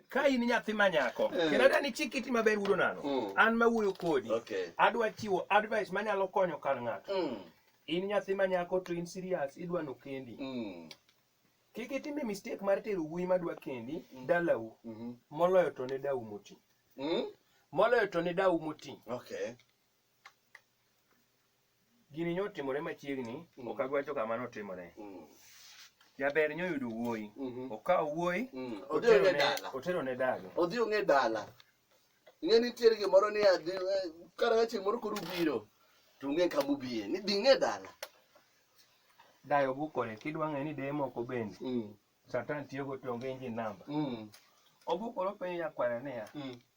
ka in nyathi ma nyako eh. kendo adwa ni chik iti maber wuodo nano mm. an ma wuoyo kodi adwa chiwo advice manyalo konyo kar ng'ato mm. in nyathi ma nyako to in serious idwa no kendi mm. kik itime mistake mar tero wuoyi madwa kendi dalau mm-hmm. moloyo to ne dau moti moloyo to ne dau moti Gini nyo timore machiegni, mm. ok agwacho kama notimore. Mm. Jaber nyo yudo wuoyi, mm-hmm. okawo wuoyi, mm. otero ne dala. Odhi ong'e dala. Ing'e nitiere gimoro ni adhi, eh, kar ka chieng' moro koro ubiro, to ung'e kama ubiye, ni dhi ng'e dala. Dayo bukore, kidwa ng'e ni deye moko bende. Mm. Satan tiyo go to onge engine number. Obukore openjo nyakware niya,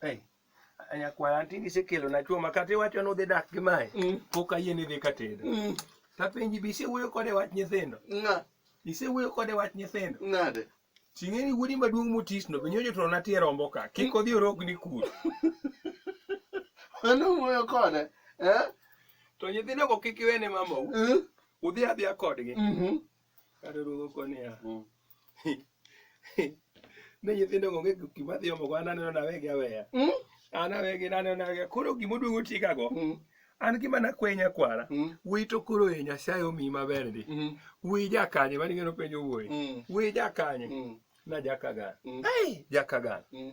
Hey. Anyakwara tinde isekelona chuo ma kata iwacho ni udhi dak gi mae mm. pok ayie ni idhi ka tedo mm. tapenji be isewuoyo kode wach nyithindo isewuoyo kode wach nyithindo nade ting'eni wuodi maduong' motisno be nyojo to natie rombo ka kik odhi orogni kur mano wuoyo kode eh? to nyithindogo kik iwene mamau eh? udhi adhiya kodgi mhm. Kata oduogo ko niya, Mm. ne nyithindo onge gima dhi omogo an aneno nawegi aweya. Mm. An awegi naneno nawegi. Koro gima oduogo tigago, Mm. an gima nakwenya kwara. Mm. Wuoyi to koro e Nyasaye omiyi maber ndi. Mm. Wuoyi jakanye, mani ng'eno penjo wuoyi. Mm. Wuoyi jakanye, Mm. na jakagan. Mm. Ai, jakagan. Mm.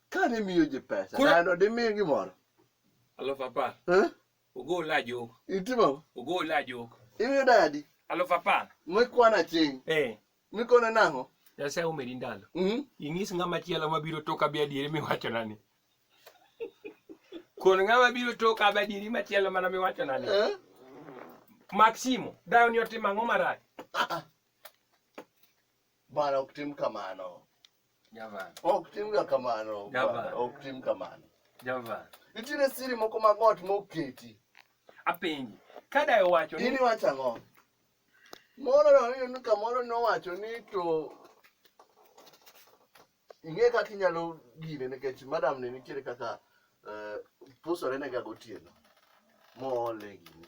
Ka ne miyo ji pesa, Koro- dano dimiye gimoro. Aluf apar. Eh? Ogol ajok. Itimo? Ogol ajok. Imiyo dadi. Aluf apar. Mikwano aching'. Eh. Mikone nang'o? Nyasaye omedi ndalo. Mm? Inyis ng'ama chielo mabiro toka bi adieri miwachona ni. Kon ng'ama biro toka bi adieri machielo mana miwachona ni. Eh? Maximo, dayo ni otimo ang'o marach? Ah, ah. Bwana ok tim kamano. Javan. Ok timga kamano. Javan. Bwana, Ok tim kamano. Javan. Nitiere siri moko mag ot moketi. Apenji. Kada e wacho ni. Ini wacho ang'o? Moro no ni kamoro nowacho ni to ing'e kaka inyalo gine nikech madam ne nitiere kaka eh, pusore ne ga gotieno moole gini.